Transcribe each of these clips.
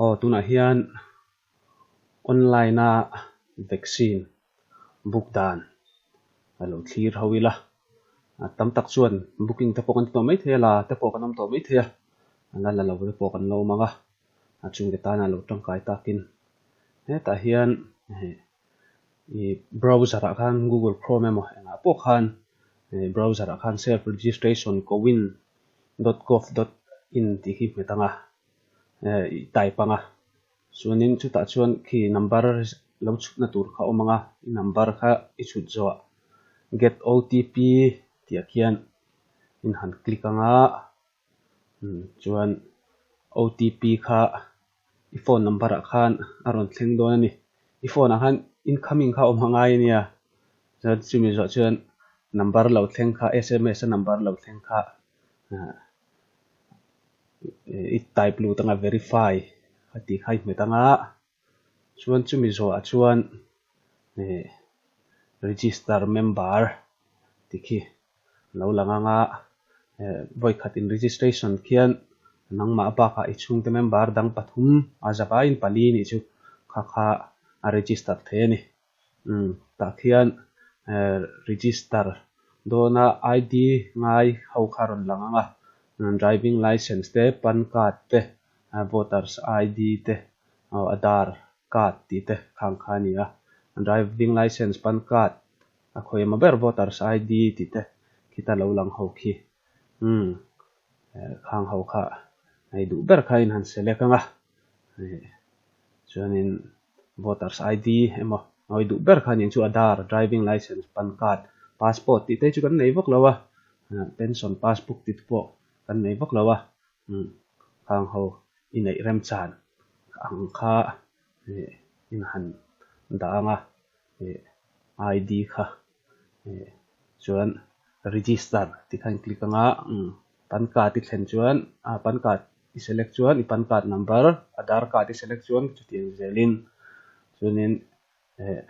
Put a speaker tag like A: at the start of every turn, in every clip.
A: Aw tunah hian online-a vaccine book dan a lo thlir ho ila, tam tak chuan booking te pawh kan ti tawh mai thei a, la te pawh kan awm tawh mai thei a, la la lo te pawh kan lo awm ang a, a chhungte tana lo tangkai takin hetah hian. ih browser ah khan google chrome emaw engah pawh khan ih browser ah khan self registration kowin dot gov dot in tih khi hmet anga eh ih type anga chuanin chutah chuan khi number lo chhutna tur kha awm anga i number kha i chhut zawh get otp tih ah khian in han click anga. chuan otp kha i phone number ah khan a rawn thleng dawn a ni, i phone ah khan incoming kha awm hma ngai a nia, chuan chumi zawh chuan number lo thleng kha sms a number lo thleng kha ah i type lut anga verify tih kha i hmet ang a. Chuan chumi zawhah chuan heh register member tikhi lo lang anga eh vawikhat in registration khian nangmah bakah i chhungte member dang pathum a zaka in pali nih chu kha kha a register thei a ni. tah khian register dawna ID ngai ho kha rawn lang anga driving licence te pan card te voters ID te aw aadhar card tih te khang kha a ni a, driving licence, pan card a khawih emaw ber voters ID tih te khi ta lo lang ho khi umm khang ho kha hei duh ber kha in han select anga chuanin Voters ID emaw ngawi duh ber khan in chu Aadhar, Driving Licence, Pan Card, Passport tih te chu kan nei vak lo a, Pension Passbook tih te pawh kan nei vak lo a, khang ho i neih remchan ang kha in han dang a, ID kha chuan register tih kha in click anga pan card i thlen chuan ah pan card i select chuan i pan card number aadhar card i select chuan chutiang zel in chuanin eh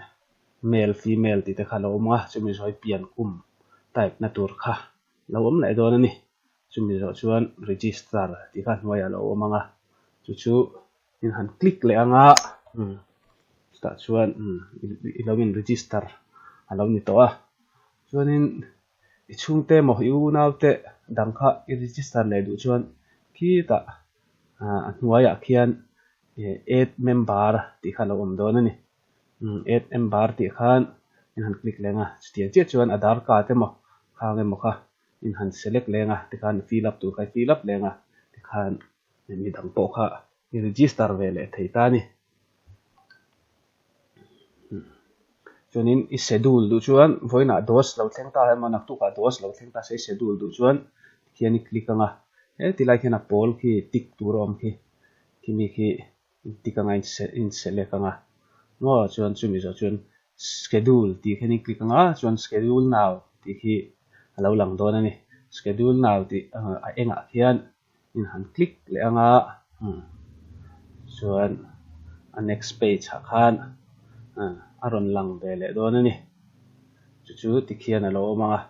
A: male female tih te kha a lo awm a chumi zawh hi pian kum type na tur kha lo awm leh dawn a ni chumi zawh chuan register tih kha a hnuaiah a lo awm ang a chu chu-- in han click leh ang a chutah chuan i lo in register a lo ni tawh a chuanin i chhungte emaw i unaute dang kha i register leh duh chuan khitah a hnuaiah khian add member tih kha a lo awm dawn a ni add member tih khan in han click leh ang a chutiang chiah chuan aadhar card emaw khang emaw kha. in han select leng a, tikhan in fill up tur kha i fill up leng a, tikhan midang pawh kha i register ve leh thei ta a ni. Chuanin i schedule duh chuan vawiinah dose lo thleng ta emaw naktukah dose lo thleng ta se i schedule duh chuan tikhian i click anga, heti lai khian a pawl khi tick tur a awm khi, khi mi khi. tick anga in select anga maw chuan chu mizawh chuan schedule tih khen in click anga chuan schedule now tih khi alo lang dawn ani schedule now tih a engah khian in han click leh anga chuan a next page ah khan a rawn lang ve leh dawn ani chu chu tikhian alo awm anga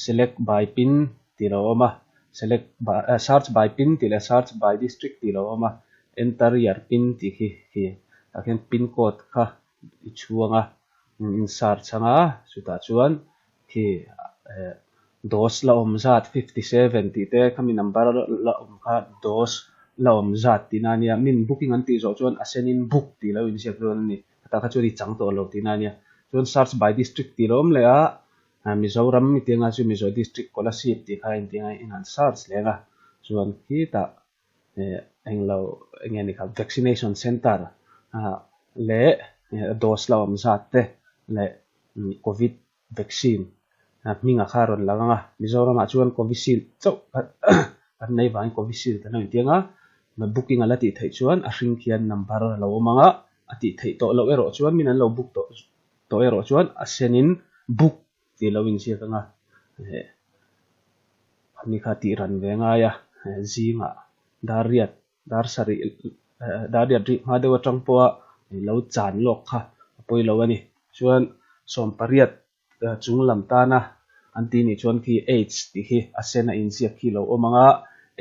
A: select by pin. tih lo awm a, Select by, Search by pin tih leh Search by district tih lo awm a, Enter your pin tih khi khi tah khian pin code kha i chhuang a, in search anga chutah chuan khi eh DOS la awm zat fifty seven tih te khami number la awm kha DOS la awm zat tihna ania, min booking an tih zawh chuan a sen in book tih lo inziak dawn a ni, hetah kha chuan i chang tawh lo tihna ania, chuan search by district tih lo awm leh a, Mizoram mi tinga chu Mizo District Scholarship tih kha inti ang a, inhan search leh ang a, chuan khitah englo enge ni kha vaccination centre leh dose la awm zat te leh Covid vaccine hmingah kha a rawn lang ang a, Mizoramah chuan Covishield chauh khat kan nei vangin Covishield kan lo inti ang a, booking a la tih theih chuan a hring khian number a lo awm ang a, a tih theih tawh loh erawh chuan min an lo book tawh Tawh erawh chuan a senin buk tih lo inziak ka nga heh. Ami kha tih ran ve ngai a, zingah dar riat dar sa rih dar riat rih hma deuh atang pawha ih lo chan lawk kha a pawi lo a ni. Chuan sawmpariat chung lam tana an tih nih chuan khi age tih hi a sen a inziak khi lo awm ang a,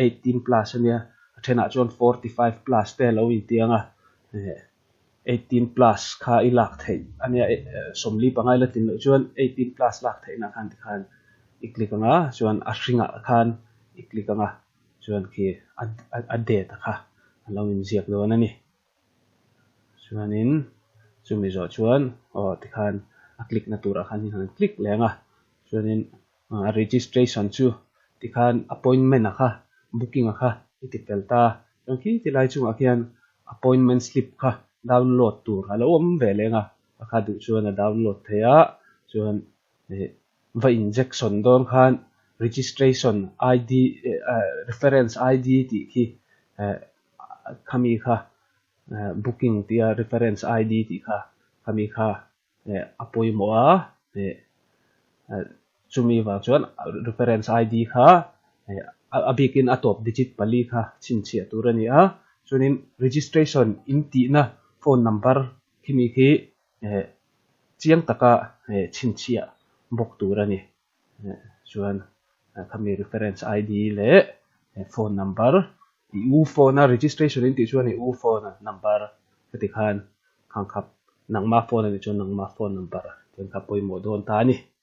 A: eighteen plus a nia, a thenah chuan forty five plus te a lo intiang a heh. eighteen plus kha i lak theih a nia sawmli pangai la tin loh chuan eighteen plus lak theih na khan tikhan i click anga chuan a hringa khan i click anga chuan khi a date a kha an lo in ziak dawn a ni chuanin chumi zawh chuan aw tikhan a click na tur ah khan hei han click leng a chuanin Registration chu ti khan appointment a kha booking a kha i ti fel ta a, chuan khi ti lai chungah khian appointment slip kha download tur a lo awm ve leng a, a kha duh chuan a download thei a, chuan ih va injectsawn dawn khan registration ID reference ID tih khi eh khami kha booking tia reference ID tih kha khami kha. Heh, a pawimawh a, heh, heh, chumi vang chuan reference ID kha, heh, a bikin a tawp digit pali kha chhinchhiah tur a ni a, chuanin registration in tihna phone number khi mi khi, heh, chiang taka, heh, chhinchhiah bawk tur a ni. chuan khami reference ID leh phone number ih u phone a registration in tih chuan ih u phone number heti te khan khang khat nangma phone a nih chuan nangma phone number tia kha pawimawh dawn ta a ni.